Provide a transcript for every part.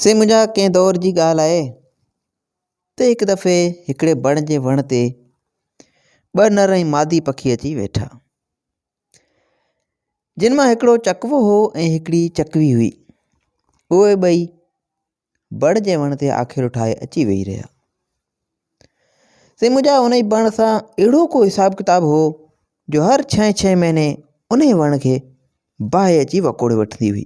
سي منهنجا ڪنهن دور جي ڳالهه آهي ته هڪ دفعي هڪڙي بڻ جي وڻ تي ٻه نر ۽ مادي پکي اچي ويٺا جن مان هڪڙو چڪوو هو ۽ هڪڙي چڪوي هئي اهي ٻئي بڻ جي وڻ تي آخر ٺاهي اچي ويهي رهيا سي منهنجا ان جي بڻ سان اهڙو ڪو حساب ڪتاب هو جو هر ڇهين ڇهين مهيني ان جي وڻ کي باهه اچي وڪوڙي وٺندي هئي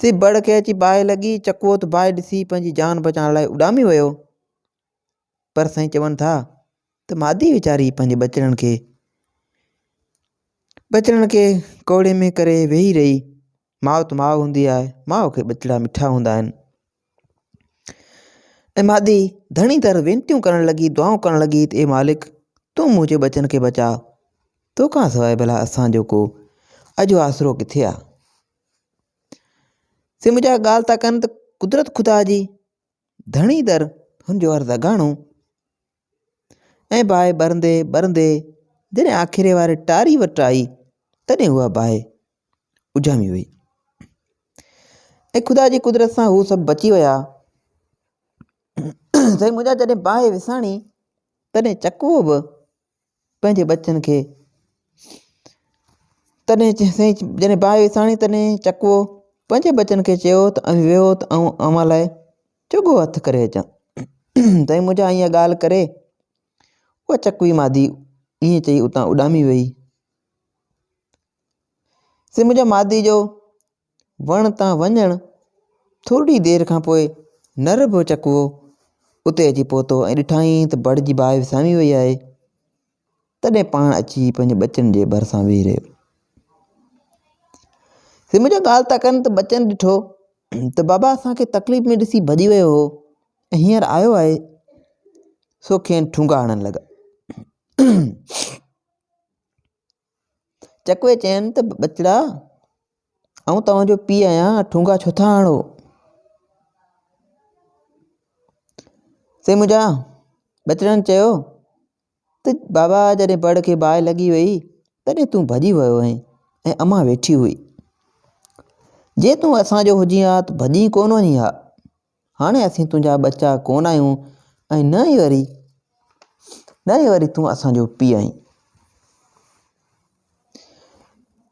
سي بڙ کي اچي باهه لڳي، چڪوت باهه ڏسي پنهنجي جان بچائڻ لاء اڏامي ويو. پر سائين چون ٿا ته مادي ويچاري پنهنجي ٻچڙن کي ٻچڙن کي ڪوڙي ۾ ڪري ويهي رهي. ماء ته ماء هوندي آهي، ماء کي ٻچڙا مٺا هوندا آهن. ۽ مادي ڌڻي در وينتيون ڪرڻ لڳي، دعائون ڪرڻ لڳي ته اي مالڪ! تون منهنجي ٻچن کي بچاء، تو کان سواء ڀلا اسان جو ڪو اڄ آسرو ڪٿي آ؟ سي منهنجا ڳالهه ٿا ڪن ته قدرت خدا جي ڌڻي در هن جو عرض اگهاڻو ۽ باهه ٻرندي ٻرندي جڏهن آکيري واري ٽاري وٽ آئي تڏهن اها باهه اجهامي وئي ۽ خدا جي قدرت سان هو سڀ بچي ويا سائين منهنجا جڏهن باهه وساڻي تڏهن چڪوو به پنهنجي ٻچن کي تڏهن سائين جڏهن باهه وساڻي تڏهن چڪوو پنهنجي ٻچن کي چيو ته اوهين ويهو ته آئون اوهان لاء چگهو هٿ ڪري اچان سائين منهنجا اها ڳالهه ڪري اها چڪوي مادي ائين چئي اتان اڏامي ويئي سائين منهنجا مادي جو وڻ تان وڃڻ ٿورڙي دير کان پوء نر به چڪوو اتي اچي پهتو ۽ ڏٺائين ته بڙ جي باهه وسامي وئي آهي. تڏهن پاڻ اچي پنهنجي ٻچن جي ڀرسان ويهي رهيو. سي منهنجا ڳالهه ٿا ڪن ته ٻچن ڏٺو ته بابا اسان کي تڪليف ۾ ڏسي ڀڄي ويو هو ۽ هينئر آيو آهي. سو کين ٺونگا هڻڻ لڳا. چڪوي چين ته ٻچڙا آئون توهان جو پيء آهيان ٺونگا ڇو ٿا هڻو؟ سي منهنجا ٻچڙن چيو ته بابا جڏهن بڙ کي باهه لڳي وئي تڏهن تون ڀڄي ويو هئين ۽ امان ويٺي هئي جي تون اسان جو هجين ها ته ڀڄي ڪونه وڃين ها هاڻي اسين تنهنجا ٻچا ڪونه آهيون ۽ نه ئي وري نه ئي وري تون اسان جو پيء آهين.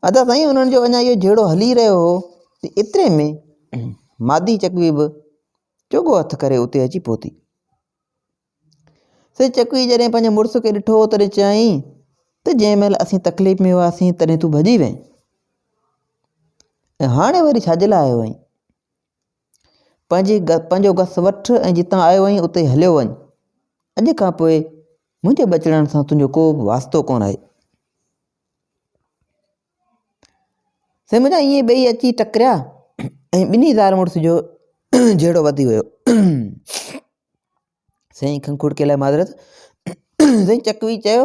ادا سائين انهن جو اڃا اهو جهيڙو هلي رهيو هو ته ايتري ۾ مادي چڪوي به چوڳو هٿ ڪري اتي اچي پهتي. سي چڪوي جڏهن پنهنجي مڙس کي ڏٺو تڏهن چيائين ته جنهن مهل اسين تڪليف ۾ هئاسين تڏهن تون ڀڄي وئين ۽ هاڻي وري ڇا جي لاء آيو آهين؟ پنهنجي پنهنجو گس وٺ ۽ جتان آيو آهين اتي هليو وڃ. اڄ کان پوء منهنجي بچڙائڻ سان تنهنجو ڪو به واسطو ڪونه آهي. سي منهنجا ائين ٻئي اچي ٽڪريا ۽ ٻنهي زار مڙس جو جهيڙو وڌي ويو. سائين کنکوڙڪي لاء معذرت سائين چڪوي چيو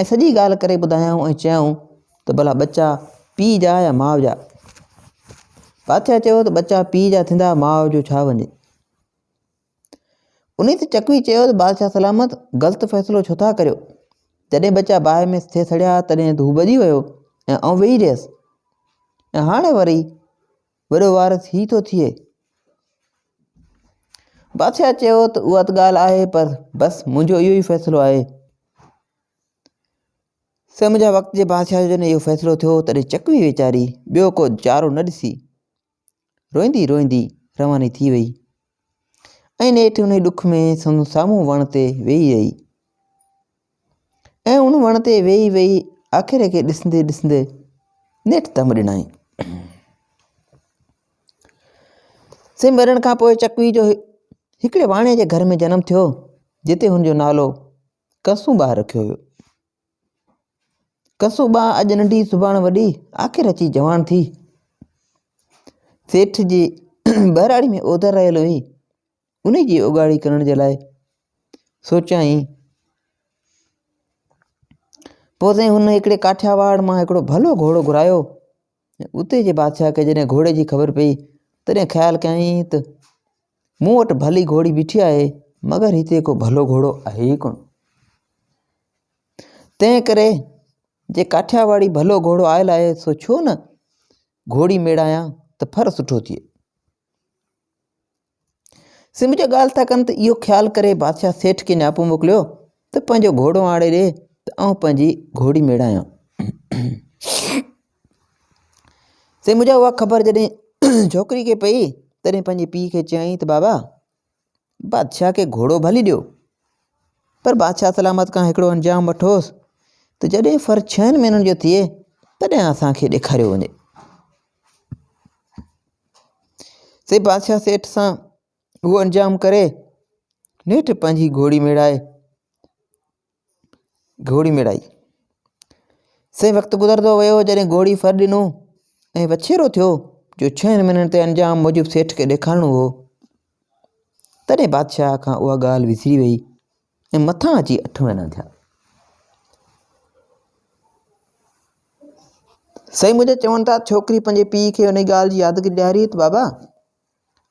۽ سڄي ڳالهه ڪري ٻڌايائون ۽ چيائون ته ڀلا ٻچا پيء جا يا ماء جا؟ پاٿيا چيو ته ٻچا پيء جا ٿيندا ماء جو ڇا وڃي؟ انهي تي چڪوي چيو ته بادشاهه سلامت غلط فيصلو ڇو ٿا ڪريو؟ جڏهن ٻچا باهه ۾ ٿي سڙيا تڏهن هو ٻڏي ويو ۽ آئون ويهي رهيس ۽ هاڻي وري وڏو وارث هي ٿو ٿئي. بادشاهه چيو ته اها ته ڳالهه آهي پر بس منهنجو اهو ئي فيصلو آهي. سم جا وقت جي بادشاهه جو جڏهن اهو فيصلو ٿيو تڏهن چڪوي ويچاري ٻيو ڪو چارو نه ڏسي روئندي روئندي رواني ٿي وئي. ۽ نيٺ انهي ڏک ۾ سندس سامهون وڻ تي ويهي رهي ۽ ان وڻ تي ويهي ويهي آکيري کي ڏسندي ڏسندي نيٺ دم ڏنائين سي مرڻ کان پوء چڪوي جو هڪڙي واڻي جي گهر ۾ جنم ٿيو جتي هن جو نالو ڪسون ٻار رکيو ويو ڪسو ٻانهن اڄ ننڍي سڀاڻ وڏي، آخر اچي جواڻ ٿي. سيٺ جي ٻهراڙي ۾ اوڌر رهيل هئي، انهي جي اوڳاڙي ڪرڻ جي لاء سوچيائين. پوء سائين هن هڪڙي ڪاٺياواڙ مان هڪڙو ڀلو گهوڙو گهرايو، اتي جي بادشاهه کي جڏهن گهوڙي جي خبر پيئي، تڏهن خيال ڪيائين ته، مون وٽ ڀلي گهوڙي بيٺي آهي، مگر هتي ڪو ڀلو گهوڙو آهي ئي ڪونه. تنهن ڪري جي ڪاٺياواڙي ڀلو گهوڙو آيل آهي، سو ڇو نه گهوڙي ميڙايان ته ڦر سٺو ٿئي. سنڌ جو ڳالهه ٿا ڪن ته اهو خيال ڪري بادشاهه سيٺ کي نياپو موڪليو ته پنهنجو گهوڙو آڻي ڏي ته آئون پنهنجي گهوڙي ميڙايان سي مجھا اها خبر جڏهن ڇوڪري کي پئي تڏهن پنهنجي پيء کي چيائين ته بابا بادشاهه کي گهوڙو ڀلي ڏيو پر بادشاهه سلامت کان هڪڙو انجام وٺوس ته جڏهن فر ڇهن مهينن جو ٿئي تڏهن اسانکي ڏيکاريو وڃي سي بادشاهه سيٺ سان اهو انجام ڪري نيٺ پنهنجي گهوڙي ميڙائي گهوڙي ميڙائي سي وقت گذرندو ويو جڏهن گهوڙي ڦر ڏنو ۽ وڇيرو ٿيو جو ڇهن مهينن تي انجام موجب سيٺ کي ڏيکارڻو هو تڏهن بادشاهه کان اها ڳالهه وسري ويئي ۽ مٿان اچي اٺ مهينا ٿيا. سائين منهنجا چون ٿا ڇوڪري پنهنجي پيء کي ان ڳالهه جي ياد ڪري ڏياري ته بابا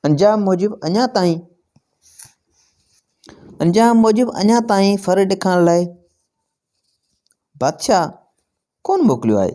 انجام موجب اڃا تائين انجام موجب اڃا تائين ڦر ڏيکارڻ لاء بادشاهه ڪونه موڪليو آهي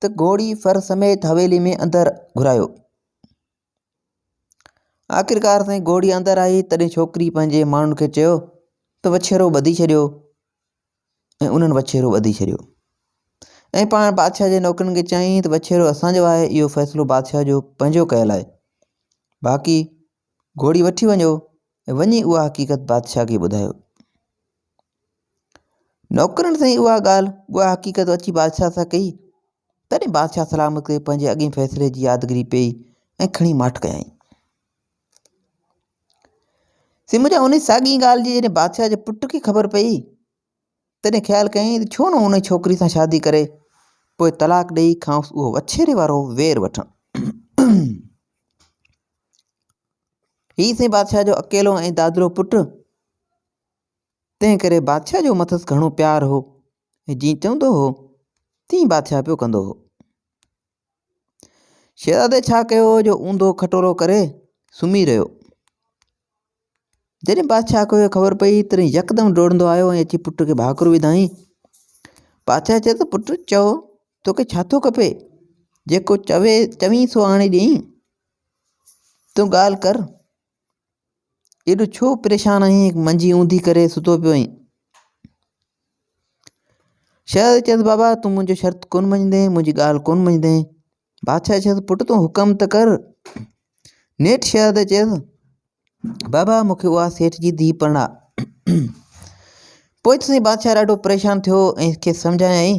ته گهوڙي ڦر سميت حويلي ۾ اندر گهرايو. آخرڪار سائين گهوڙي اندر آئي تڏهن ڇوڪري پنهنجي ماڻهن کي چيو ته وڇيرو ٻڌي ڇڏيو ۽ انهن وڇيرو ٻڌي ڇڏيو ۽ پاڻ بادشاهه جي نوڪرن کي چيائين ته وڇيرو اسان جو آهي اهو فيصلو بادشاهه جو پنهنجو ڪيل آهي باقي گهوڙي وٺي وڃو ۽ وڃي اها حقيقت بادشاهه کي ٻڌايو. نوڪرن سائين اها ڳالهه اها حقيقت اچي بادشاهه سان ڪئي، تڏهن بادشاهه سلامت ڪري پنهنجي اڳئين فيصلي جي يادگري پئي ۽ کڻي ماٺ ڪيائين. سمجهه ان ساڳئين ڳالهه جي جڏهن بادشاهه جي پٽ کي خبر پئي، تڏهن خيال ڪيائين ته ڇو نه ان ڇوڪري سان شادي ڪري پوء طلاق ڏيئي کانئس اهو وڇيري وارو وير وٺان. هي سين بادشاهه جو اڪيلو ۽ دادرو پٽ تنهن ڪري بادشاهه جو مٿس گهڻو پيار هو ۽ جيئن چوندو هو تيئن بادشاهه پيو ڪندو هو. شهزادي ڇا ڪيو هو جو اوندو کٽورو ڪري سمهي رهيو. جڏهن بادشاهه کي اهو خبر پئي تڏهن يڪدم ڊوڙندو آيو ۽ اچي پٽ کي ڀاڪر وڌائين. بادشاهه چيو ته پٽ چئو توکي ڇا ٿو کپي؟ جيڪو چوي چوين سو آڻي ڏيئين. تون ڳالهه ڪر. ايڏو ڇو پريشان آهين؟ منجي اونڌي ڪري ستو پيو آهين. شهزادي چيس، بابا تون منهنجو شرط ڪونه مڃيندين، منهنجي ڳالهه ڪونه مڃيندين. بادشاهه چيس، پٽ تون حڪم ته ڪر. نيٺ شهزادي چيس، بابا مون کي اها سيٺ جي ڌيء پرڻاء. پوء ته سائين بادشاهه ڏاڍو پريشان ٿيو ۽ کيس سمجهايائين.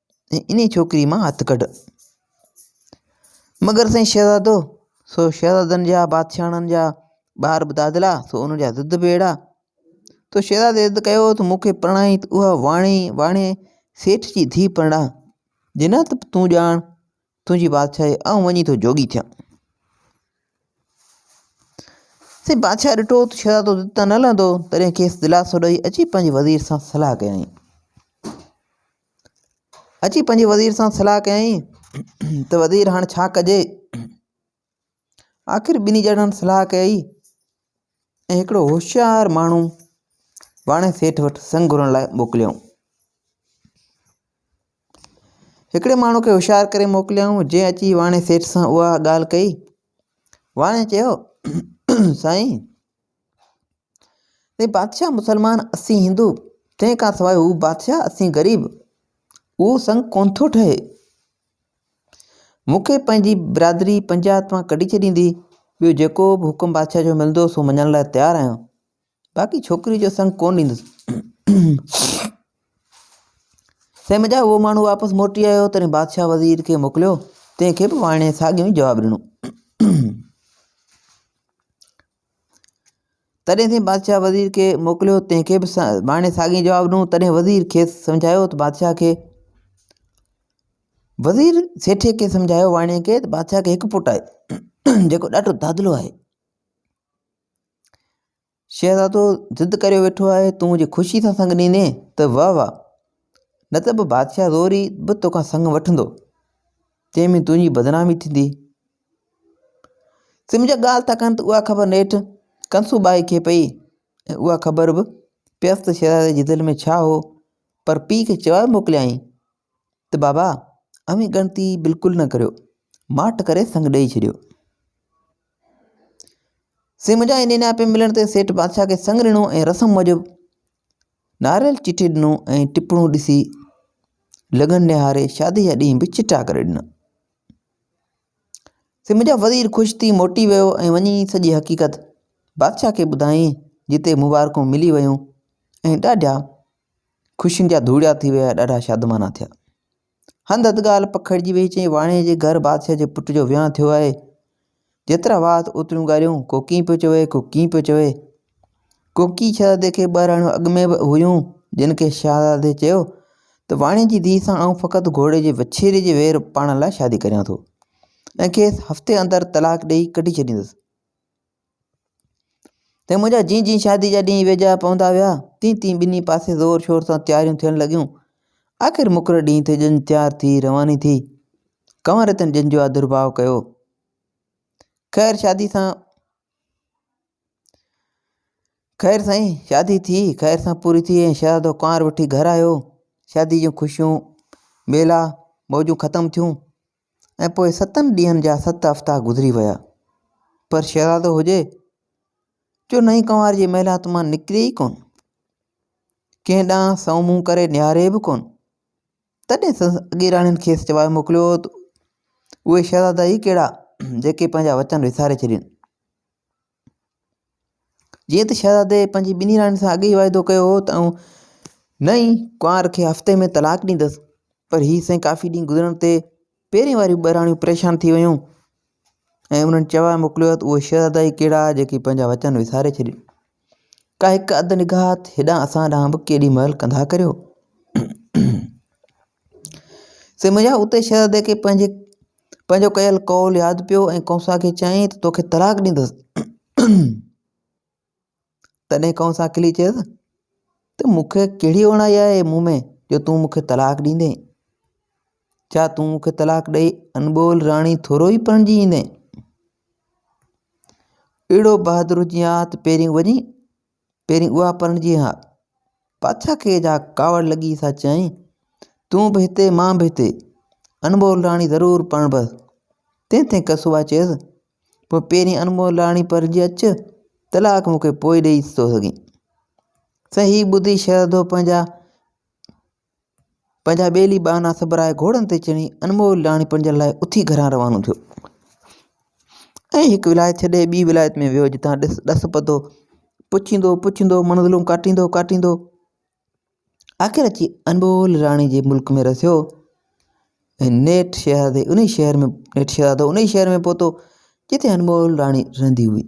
انهيء ڇوڪريء مان هٿ ڪڍ. مگر سائين شهزادو، سو شهزادن جا، بادشاهڻن جا، ٻار به دادلا، سو انهن جا ضد به اهڙا. تو شهزادي ضد ڪيو هو ته مون کي پرڻائي ته اها واڻي، واڻي سيٺ جي ڌيء پرڻاء. جي نه ته تون ڄاڻ، تنهنجي بادشاهيء آئون وڃي ٿو جوڳي ٿيان. سائين بادشاهه ڏٺو ته شهزادو ضد تان نه لهندو، تڏهن کيس دلاسو ڏئي اچي پنهنجي وزير سان صلاح ڪيائين. اچي پنهنجي وزير سان صلاح ڪيائين ته وزير هاڻي ڇا ڪجي آخر ٻنهي ڄڻن صلاح ڪئي ۽ هڪڙو هوشيار ماڻهو واڻي سيٺ وٽ سنگ گهرڻ لاء موڪليائون هڪڙي ماڻهو کي هوشيار ڪري موڪليائون جنهن اچي واڻي سيٺ سان اها ڳالهه ڪئي واڻي چيو سائين تنهن بادشاهه مسلمان اسين هندو، تنهن کان سواء هو بادشاهه اسين غريب، اهو سڱ ڪونه ٿو ٺهي. مون کي پنهنجي برادري پنجات مان ڪڍي ڇڏيندي، ٻيو جيڪو به حڪم بادشاهه جو ملندو سو مڃڻ لاء تيار آهيان، باقي ڇوڪريء جو سڱ ڪونه ڏيندس. سي مجا اهو ماڻهو واپس موٽي آيو، تڏهن بادشاهه وزير کي موڪليو، تنهن کي به واڻيي ساڳيو ئي جواب ڏنو. تڏهن تنهن بادشاهه وزير کي موڪليو، تنهن کي به ماڻي ساڳيون جواب ڏنو، تڏهن وزير کيس سمجهايو ته بادشاهه کي وزير سيٺي کي سمجهايو واڻي کي ته بادشاهه کي هڪ پٽ آهي جيڪو ڏاڍو دادلو آهي، شهزادو ضد ڪريو ويٺو آهي، تون جي خوشي سان سڱ ڏيندين ته واهه واهه، نه ته به بادشاهه زوري به توکان سڱ وٺندو، تنهن ۾ تنهنجي بدنامي ٿيندي. سمجهه ڳالهه ٿا ڪن ته اها خبر نيٺ ڪنسو ٻائي کي پئي ۽ اها خبر به پيس ته شهزادي جي دل ۾ ڇا هو پر پيء کي چوائي موڪليائين ته بابا اوهين ڳڻتي بلڪل نه ڪريو ماٺ ڪري سڱ ڏئي ڇڏيو سمجهه ۽ نينا پي ملڻ تي سيٺ بادشاهه کي سڱ ڏنو ۽ رسم موجب ناريل چٽي ڏنو ۽ ٽپڻو ڏسي لڳن نهاري شادي جا ڏينهن به چٽا ڪري ڏنا سم جا وزير خوش ٿي موٽي ويو ۽ وڃي سڄي حقيقت بادشاهه کي ٻڌائين جتي مبارڪون ملي ويون ۽ ڏاڍا خوشين جا ڌوڙيا ٿي ويا ڏاڍا شادمانا ٿيا هنڌ هنڌ ڳالهه پکڙجي ويئي چيائين واڻي جي گهر بادشاهه جي پٽ جو ويهان ٿيو آهي جيترا وات اوتريون ڳالهيون، ڪو ڪيئن پيو چوي، ڪو ڪيئن پيو چوي. ڪوڪي شهزادي کي ٻه رهاڻيون اڳ ۾ به هيون، جن کي شهزادي چيو ته واڻي جي ڌيء سان آئون فقط گهوڙي جي وڇيري جي وير پاڻ لاء شادي ڪريان ٿو ۽ کيس هفتي اندر طلاق ڏيئي ڪڍي ڇڏيندس. ته منهنجا جيئن جيئن شادي جا ڏينهن ويجها پوندا ويا، تيئن تيئن ٻنهي پاسي زور شور سان تياريون ٿيڻ لڳيون. آخر مقرر ڏينهن تي ڄڃ تيار ٿي رواني ٿي. ڪنور رتن ڄڃ جو آڌرڀاء ڪيو. خير شادي سان خير سائين شادي ٿي خير سان پوري ٿي ۽ شهزادو ڪنوار وٺي گهر آيو. شادي جون خوشيون، ميلا، موجون ختم ٿيون. ۽ پوء ستن ڏينهن جا ست هفتا گذري ويا، پر شهزادو هجي جو نئين ڪنوار جي محلات مان نڪري ئي ڪونه، ڪنهن ڏانهن سنئون منهن ڪري نهاري به ڪونه، تڏهن سندس اڳيراڻين کيس چوائي موڪليو هو ته اهي شهزادا ئي ڪهڙا جيڪي پنهنجا وچن وساري ڇڏين. جيئن ته شهزادي پنهنجي ٻنهي راڻين سان اڳي ئي واعدو ڪيو هو ته آئون نه ئي ڪنوار کي هفتي ۾ طلاق ڏيندس پر هي سائين ڪافي ڏينهن گذرڻ تي پهرين واريون ٻه راڻيون پريشان ٿي ويون ۽ انهن چواء موڪليو ته اهي شهزادا ئي ڪهڙا جيڪي پنهنجا وچن وساري ڇڏين ڪا هڪ اڌ نگاهت هيڏانهن اسان ڏانهن به ڪيڏي مهل ڪنڌا ڪريو سي منهنجا اتي شهزادي کي پنهنجي پنهنجو ڪيل قول ياد پيو ۽ ڪنسا کي چيائين ته توکي طلاق ڏيندس تڏهن ڪنسا کلي چيس ته مون کي ڪهڙي اوڻائي آهي مون ۾ جو تون مون کي طلاق ڏيندين ڇا تون مون کي طلاق ڏئي انبول راڻي ٿورو ئي پرڻجي ايندين اهڙو بهادر هجين ها ته پهرين وڃي پهرين اها پرڻجي ها. پاڇا کي جا ڪاوڙ لڳي سا چيائين، تون به هتي مان به هتي. انمول راڻي ضرور پرڻبس. تنهن تي ڪسوبا چيس، پوء پهرين انمول راڻي پرڻجي اچ، طلاق مون کي پوء ڏيئي ٿو سگهين. سهي ٻڌي شهزادو پنهنجا پنهنجا ٻيلي ٻانها سبرائي گهوڙن تي چڙهي انمول لاڻيپن جي لاء اٿي گهران روانو ٿيو ۽ هڪ ولايت ڇڏي ٻي ولايت ۾ ويو جتان ڏس ڏس پڌو پڇيندو پڇيندو منزلون ڪاٽيندو ڪاٽيندو آخر اچي انمول راڻي جي ملڪ ۾ رسيو ۽ نيٺ شهزادي ان شهر ۾ نيٺ شهزادو ان شهر ۾ پهتو جتي انمول راڻي رهندي هئي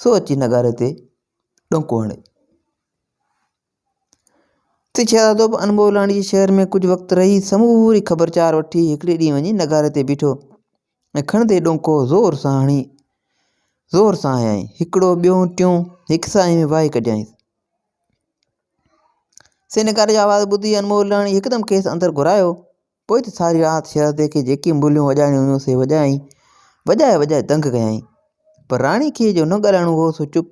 سو اچي نغاري تي ڏونڪو هڻي. اتي شهزادو به انبوهه لاڻي جي شهر ۾ ڪجهه وقت رهي سموري خبرچار وٺي هڪڙي ڏينهن وڃي نغاري تي بيٺو ۽ کڻندي ڏونڪو زور سان هڻي زور سان هنيائين. هڪڙو ٻيو ٽيون هڪ ساهي ۾ وهائي ڪڍيائينس. سي نغاري جو آواز ٻڌي انبوهه لاڻي هڪدم کيس اندر گهرايو. پوء ته ساري رات شهزادي کي جيڪي مليون وڄائڻيون هيون سي وڄائين، وڄائي وڄائي دنگ ڪيائين، پر راڻي کي جو نه ڳالهائڻو هو سو چپ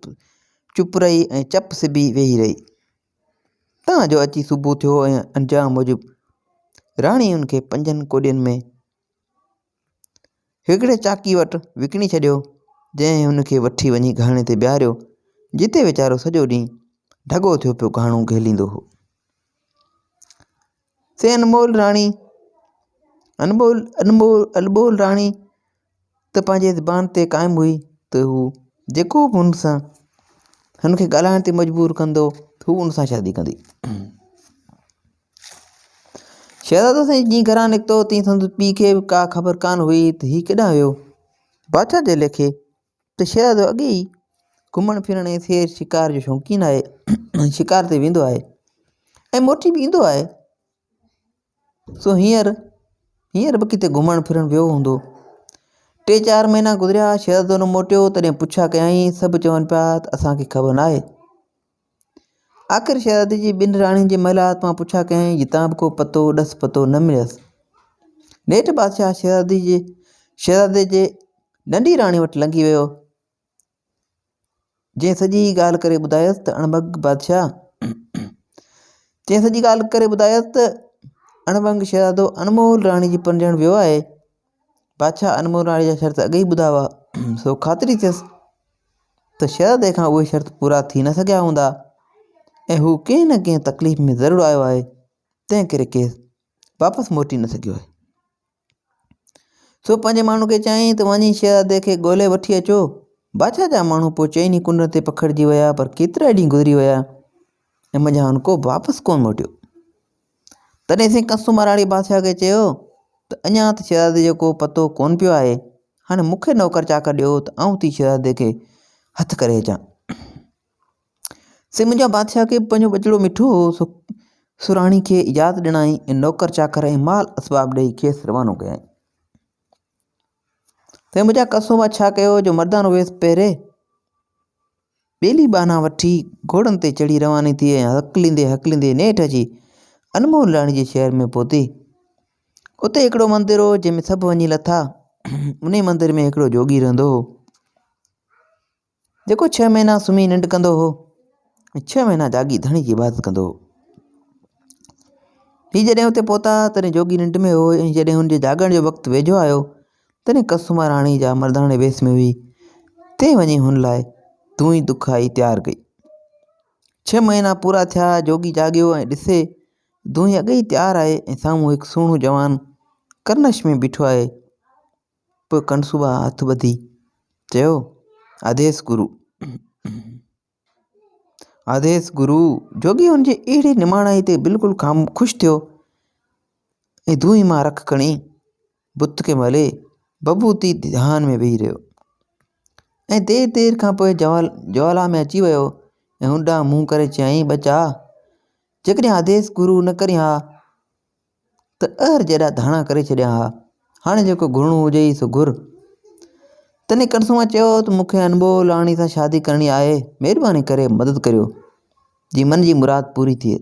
چپ رهي ۽ چپ سبي ويهي رهي، تان جو اچي صبح ٿيو ۽ انجام موجب راڻي ان کي پنجن ڪوڏين ۾ هڪڙي چاڪي وٽ وڪڻي ڇڏيو، جنهن هن کي وٺي وڃي گهاڻي تي بيهاريو، جتي ويچارو سڄو ڏينهن ڍڳو ٿيو پيو گهاڻو گهيليندو هو. سي انمول راڻي، انمول، انمول، البول راڻي ته پنهنجي زبان تي قائم هئي ته هو جيڪو به هن سان، هن کي ڳالهائڻ تي مجبور ڪندو، هو هن سان شادي ڪندي. شهزادو سائين جيئن گهران نڪتو تيئن سندس پيء کي به ڪا خبر ڪانه هئي ته هي ڪيڏانهن ويو. بادشاهه جي ليکي ته شهزادو اڳي ئي گهمڻ ڦرڻ ۽ سير شڪار جو شوقين آهي ۽ شڪار تي ويندو آهي ۽ موٽي به ايندو آهي سو هينئر هينئر به ڪٿي گهمڻ ڦرڻ ويو هوندو. ٽي چار مهينا گذريا شهزادو نه موٽيو تڏهن پڇا ڪيائين سڀ چون پيا ته اسان کي خبر ناهي. آخر شهزادي جي ٻن راڻين جي محلات مان پڇا ڪيائين، جتان به ڪو پتو، ڏس پتو، نه مليس. نيٺ بادشاهه شهزادي جي شهزادي جي ننڍي راڻي وٽ لنگهي ويو، جنهن سڄي ڳالهه ڪري ٻڌايس ته اڻڀنگ بادشاهه جنهن سڄي ڳالهه ڪري ٻڌايس ته اڻڀنگ شهزادو انمول راڻي جي پرڻجڻ ويو آهي. بادشاهه انمول راڻي جا شرط اڳ ئي ٻڌا هئا، سو خاطري ٿيس ته شهزادي کان اهي شرط پورا ٿي نه سگهيا هوندا ۽ هو ڪنهن نه ڪنهن تڪليف ۾ ضرور آيو آهي، تنهن ڪري کيس واپس موٽي نه سگهيو آهي. سو پنهنجي ماڻهن کي چيائين ته وڃي شهزادي کي ڳولي وٺي اچو. بادشاهه جا ماڻهو پوء چئن ئي ڪنڊن تي پکڙجي ويا پر ڪيترائي ڏينهن گذري ويا ۽ منجهانئن ڪو به واپس ڪونه موٽيو. تڏهن سائين ڪنسو مهراڻي بادشاهه کي چيو ته اڃا ته شهزادي جو ڪو پتو ڪونه پيو آهي، هاڻي مون کي نوڪر چاڪر ڏيو ته آئون ٿي شهزادي کي هٿ ڪري اچان. سي منهنجا بادشاهه کي به پنهنجو ٻچڙو مٺو هو، سو سرهاڻي کي اجازت ڏنائين ۽ نوڪر چاڪر ۽ مال اسباب ڏيئي کيس روانو ڪيائين. تنهن بجا قصو مان ڇا ڪيو جو مردان اويس پهري ٻيلي ٻانها وٺي گهوڙن تي چڙهي رواني ٿي ۽ هڪليندي هڪليندي نيٺ اچي انمول راڻي جي شهر ۾ پهتي. اتي هڪڙو مندر هو جنهن ۾ سڀ وڃي لٿا. انهي مندر ۾ هڪڙو جوڳي رهندو هو. جيڪو ڇهه مهينا سمهي ننڊ ڪندو هو ۽ ڇهه مهينا جاڳي ڌڻي جي عبادت ڪندو هو. هي جڏهن اتي پهتا تڏهن جوڳي ننڊ ۾ هو ۽ جڏهن هن جي جاڳڻ جو وقت ويجهو آيو تڏهن ڪسوما راڻي جا مرداڻي ويس ۾ هئي تنهن وڃي هن لاء دونهي دکائي تيار ڪئي. ڇهه مهينا پورا ٿيا جوڳي جاڳيو ۽ ڏسي دونهي اڳي ئي تيار آهي ۽ سامهون هڪ سهڻو جوان ڪرنش ۾ بيٺو آهي. پوء ڪنسوبا هٿ ٻڌي چيو، آديس گرو! آديس گرو! جوڳي هن جي اهڙي نماڻائي تي بلڪل خوش ٿيو ۽ دونهين مان رک کڻي بت کي ملي بڀوتي ڌيان ۾ ويهي رهيو ۽ دير دير کان پوء جوالا ۾ اچي ويو ۽ هن ڏانهن منهن ڪري چيائين، ٻچا! جيڪڏهن آديس گرو نه ڪرين ها، ته اهر جيڏا ڌاڻا ڪري ڇڏيا ها، هاڻي جيڪو گهرڻو هجئي سو گهر. تنهن ڪنسوان چيو ته مون کي انبوء لاڙڻي سان شادي ڪرڻي آهي، مهرباني ڪري مدد ڪريو، جي من جي مراد پوري ٿئي.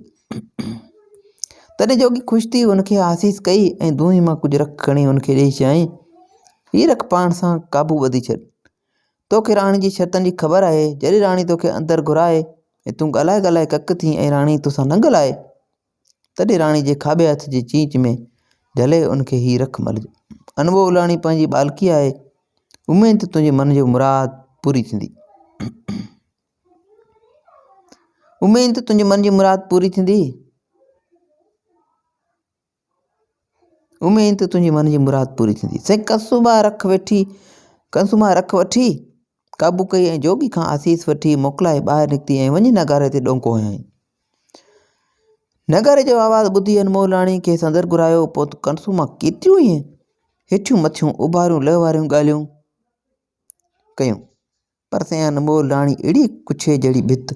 تڏهن جوڳي خوش ٿي ان کي آسيس ڪئي ۽ دونهين مان ڪجهه رک کڻي ان کي ڏيئي چيائين، هي رک پاڻ سان قابو ٻڌي ڇڏ. تو کي راڻي جي شرطن جي خبر آهي، جڏهن راڻي تو کي اندر گهرائي ۽ تون ڳالهائي ڳالهائي ڪڪ ٿين ۽ راڻي تو سان ننگ لائي، تڏهن راڻي جي کاٻي هٿ جي چيچ ۾ جهلي ان کي هي رک ملجي. انبوهه الاڻي پنهنجي ٻالڪي آهي، اميد ته تنهنجي من جي مراد پوري ٿيندي. اميد ته تنهنجي من جي مراد پوري ٿيندي. اميد ته تنهنجي من جي مراد پوري ٿيندي. سائين ڪنسوما رک وٺي ڪنسوما رک وٺي، قابو ڪئي ۽ جوڳي کان آسيس وٺي، موڪلائي ٻاهر نڪتي ۽ وڃي نغاري تي ڏونڪو هنيائين. نغاري جو آواز ٻڌي انمولاڻي کي سندر گهرايو، پوت ڪنسوما ڪيتريون ئي هيٺيون مٿيون، اوڀاريون لهه واريون ڳالهيون ڪيون. پرتيان انمول راڻي اهڙي ڪڇي جهڙي ڀت.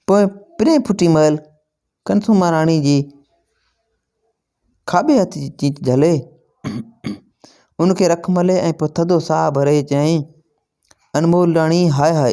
پوء پرينء ڦٽي مهل ڪنسوما راڻي جي کاٻي هٿ جي چيچ جهلي، ان کي رک ملي ۽ پوء ٿڌو ساهه ڀري چيائين، انمول راڻي هاء هاء!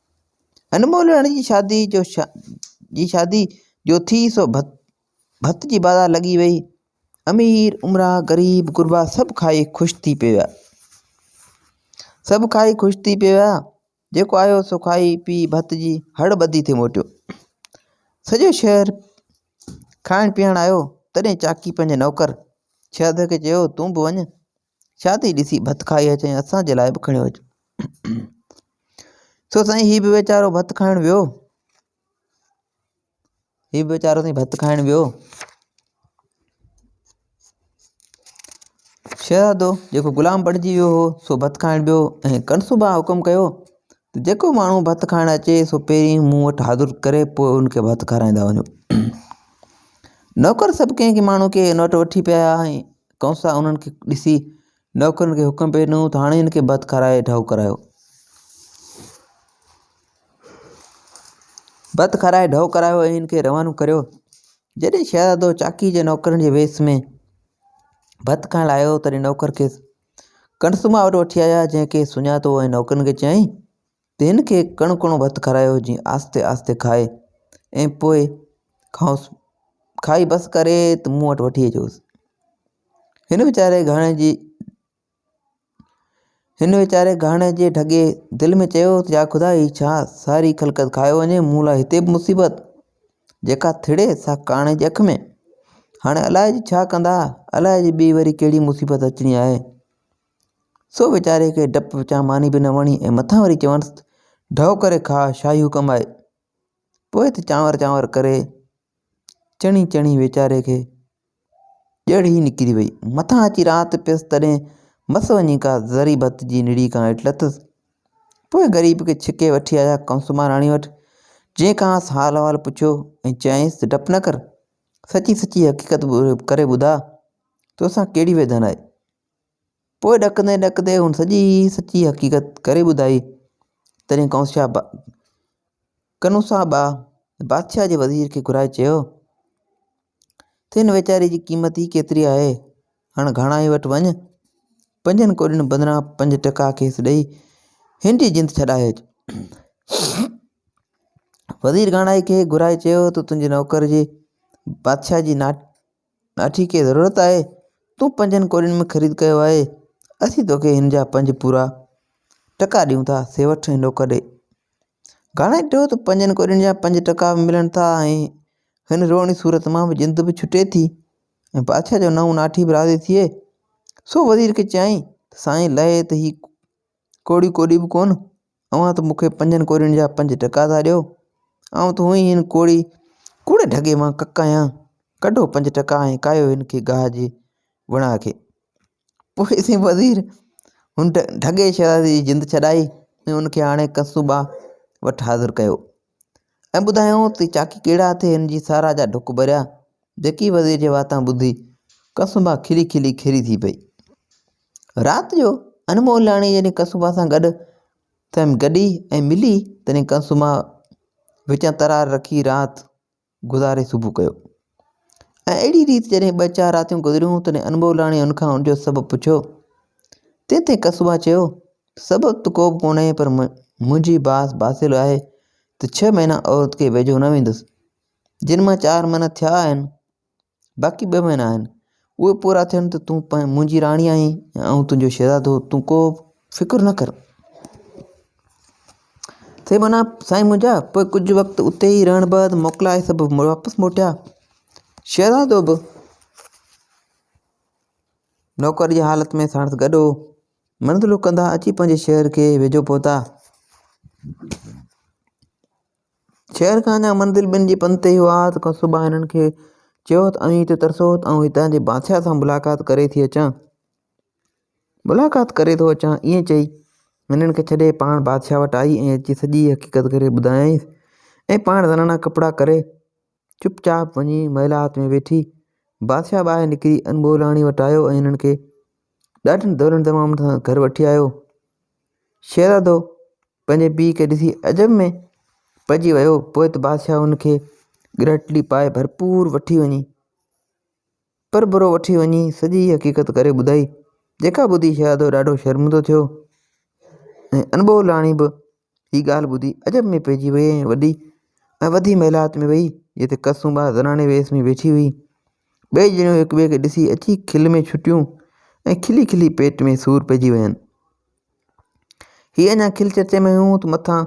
هن مولهياڻي جي شادي جو جي شادي جو ٿي سو ڀت ڀت جي بازار لڳي وئي امير امراء غريب غربا سڀ کائي خوش ٿي پيا سڀ کائي خوش ٿي پيا جيڪو آيو سو کائي پي ڀت جي هڙ ٻڌي ٿي موٽيو سڄو شهر کائڻ پيئڻ آيو تڏهن چاڪي پنهنجي نوڪر شهزادي کي چيو تون به وڃ شادي ڏسي ڀت کائي اچين اسان جي لاء به کڻيو اچ سو سائين هي به ويچارو ڀت کائڻ ويو هي به ويچارو سائين ڀت کائڻ ويو شهزادو جيڪو غلام بڻجي ويو هو سو ڀت کائڻ ويو ۽ ڪنسوبا حڪم ڪيو ته جيڪو ماڻهو ڀت کائڻ اچي سو پهرين مون وٽ حاضر ڪري پوء ان کي ڀت کارائيندا وڃو نوڪر سڀ ڪنهن ڪنهن ماڻهو کي ان وٽ وٺي پيا آيا ۽ ڪنسا انهن کي ڏسي نوڪرن کي حڪم پيو ڏنو ته هاڻي ان کي ڀت کارائي ڍؤ ڪرايو ڀت کارائي ڍؤ ڪرايو ۽ ان کي روانو ڪريو جڏهن شهزادو چاڪي جي نوڪرن جي ويس ۾ ڀت کائڻ لاء آيو تڏهن نوڪر کيس ڪڻسما وٽ وٺي آيا، جنهن کيس سڃاتو هو ۽ نوڪرن کي چيائين ته هن کي ڪڻو ڪڻو ڀت کارايو، جيئن آهستي آهستي کائي ۽ پوء کائوس، کائي بس ڪري ته مون وٽ وٺي اچوس. هن ويچاري گهاڻي جي هن ويچاري گهاڻي جي ڍڳي دل ۾ چيو ته يا خدا هي ڇا ساري خلقت کائي وڃي، مون لاء هتي به مصيبت! جيڪا ٿڙي سا ڪاڻ جي اک ۾، هاڻي الاء جي ڇا ڪندا، الاء جي ٻي وري ڪهڙي مصيبت اچڻي آهي. سو ويچاري کي ڊپ پچان ماني به نه وڻي ۽ مٿان وري چونس ته ڍؤ ڪري کاء شاهي حڪم آهي. پوء ته چانور چانور ڪري چڻي چڻي ويچاري کي ڄڙ ئي نڪري وئي. مٿان اچي رات پيس تڏهن مس وڃي ڪا ذري ڀت جي نڙي کان هيٺ لٿس. پوء غريب کي ڇڪي وٺي آيا ڪنسوماراڻي وٽ، جنهن کانئس حال احوال پڇيو ۽ چيائينس ته ڊپ نه ڪر، سچي سچي حقيقت ڪري ٻڌاء، توسان ڪهڙي ويڌن آهي؟ پوء ڏڪندي ڏڪندي هن سڄي سچي حقيقت ڪري ٻڌائي. تڏهن ڪنوسا با ڪنوسا با بادشاهه جي وزير کي گهرائي چيو ته هن ويچاري جي قيمت ئي ڪيتري آهي، هاڻ گهاڻائي وٽ وڃ، پنجن ڪوڏين بدران پنج ٽڪا کيس ڏئي هن جي جند ڇڏائج. وزير گهاڻائي کي گهرائي چيو ته تنهنجي نوڪر جي بادشاهه جي نا ناٺي کي ضرورت آهي، تون پنجن ڪوڏين ۾ خريد ڪيو آهي، اسين توکي هن جا پنج پورا ٽڪا ڏيون ٿا، سي وٺ ۽ ڏوڪ ڏي. گهاڻي ٽيو ته پنجن ڪوڏين جا پنج ٽڪا به ملن ٿا ۽ هن روئڻي صورت مان به جند به ڇٽي ٿي ۽ بادشاهه جو نئون ناٺي به راضي ٿئي. سو وزير کي چيائين ته سائين لهي ته هي ڪوڙي ڪوڏي به ڪونه اوهان ته مون کي پنجن ڪوڙين جا پنج ٽڪا ٿا ڏيو. آئون ته هونئن ئي هن ڪوڙي ڪوڙي ڍڳي مان ڪڪ آهيان. ڪڍو پنج ٽڪا ۽ ڪاهيو هن کي گاهه جي وڻاء کي. پوء سين وزير هن ڍڳي شهزادي جي جند ڇڏائي ۽ هن کي آڻي ڪنسوبا وٽ حاضر ڪيو. ۽ ٻڌايائون ته چاڪي ڪهڙا اٿئي هن جي ساراهه جا ڍڪ ڀريا، جيڪي وزير جي واتان ٻڌي قصوبا کلي کلي کيري ٿي پئي. رات جو انمول لاڻي جڏهن قصوبا سان گڏ سندس گڏي ۽ ملي تڏهن قصوبا وچان ترار رکي رات گذاري صبح ڪيو ۽ اهڙي ريت جڏهن ٻه چار راتيون گذريون تڏهن انبولاڻي ان کان ان جو سبب پڇيو. تنهن تي ڪسبا چيو، سبب ته ڪوبه ڪونهي پر منهنجي باس باصل آهي ته ڇهه مهينا عورت کي ويجهو نه ويندس. جن مان چار مهينا ٿيا آهن. باقي ٻه مهينا آهن، اهي پورا ٿين ته تون منهنجي راڻي آهين ۽ آئون تنهنجو شهزادو، تون ڪو به فڪر نه ڪر. سي منا، سائين منهنجا! پوء ڪجهه وقت اتي ئي رهڻ بعد موڪلائي سڀ واپس موٽيا. شهزادو به نوڪر جي حالت ۾ ساڻس گڏ هو. منزلون ڪندا اچي پنهنجي شهر کي ويجهو پهتا. شهر کان اڃا منزل ٻن جي پنڌ تي هئا ته قصبه هنن کي چيو ته اوهين هتي ترسو ته آئون هتان جي بادشاهه سان ملاقات ڪري ٿي اچان. ملاقات ڪري ٿو اچان. ائين چئي هنن کي ڇڏي پاڻ بادشاهه وٽ آئي ۽ اچي سڄي حقيقت کي ٻڌايائينس ۽ پاڻ زنانا ڪپڙا ڪري چپ چاپ وڃي محلات ۾ ويٺي. بادشاهه ٻاهر نڪري انبولاڻي وٽ آيو ۽ هنن کي ڏاڍن دولن دمامن سان گهر وٺي آيو. شهزادو پنهنجي پيء کي ڏسي عجب ۾ پئجي ويو. پوء ته بادشاهه هن کي ڳرهٽلي پائي ڀرپور وٺي وڃي پرڀرو وٺي وڃي سڄي حقيقت ڪري ٻڌائي، جيڪا ٻڌي شهزادو ڏاڍو شرمندو ٿيو ۽ انبولاڻي به هيء ڳالهه ٻڌي عجب ۾ پئجي ويئي ۽ وڏي ۽ وڌي محلات ۾ ويئي، جتي ڪلثوما زناڻي ويس ۾ ويٺي هئي. ٻئي ڄڻيون هڪ ٻئي کي ڏسي اچي کل ۾ ڇٽيون ۽ کلي کلي پيٽ ۾ سور پئجي وين. هي اڃا کل چرچي ۾ هيون ته مٿان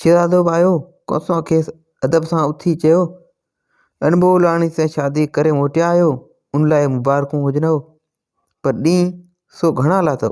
شهزادو به آيو، ڪلثوما کيس ادب سان اٿي چيو، اڻڀولاڻي سين شادي ڪري موٽيا آهيو، ان لاء مبارڪون هجنو، پر ڏينهن سو گهڻا لاٿو.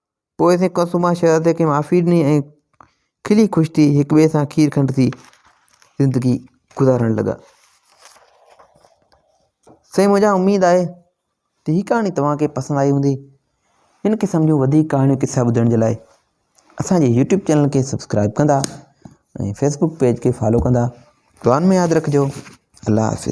پوء سين ڪلثوما شهزادي کي معافي ڏني ۽ کلي خوش ٿي هڪ ٻئي سان کير کنڊ ٿي زندگي گذارڻ لڳا. سائين منهنجا اميد آهي ته هي ڪهاڻي توهان کي پسند آئي هوندي هن قسم جون وڌيڪ ڪهاڻيون قصا ٻڌڻ جي لاء اسان جي يوٽيوب چينل کي سبسڪرائب ڪندا ۽ فيسبوڪ پيج کي فالو ڪندا دعائن ۾ ياد رکجو الله حافظ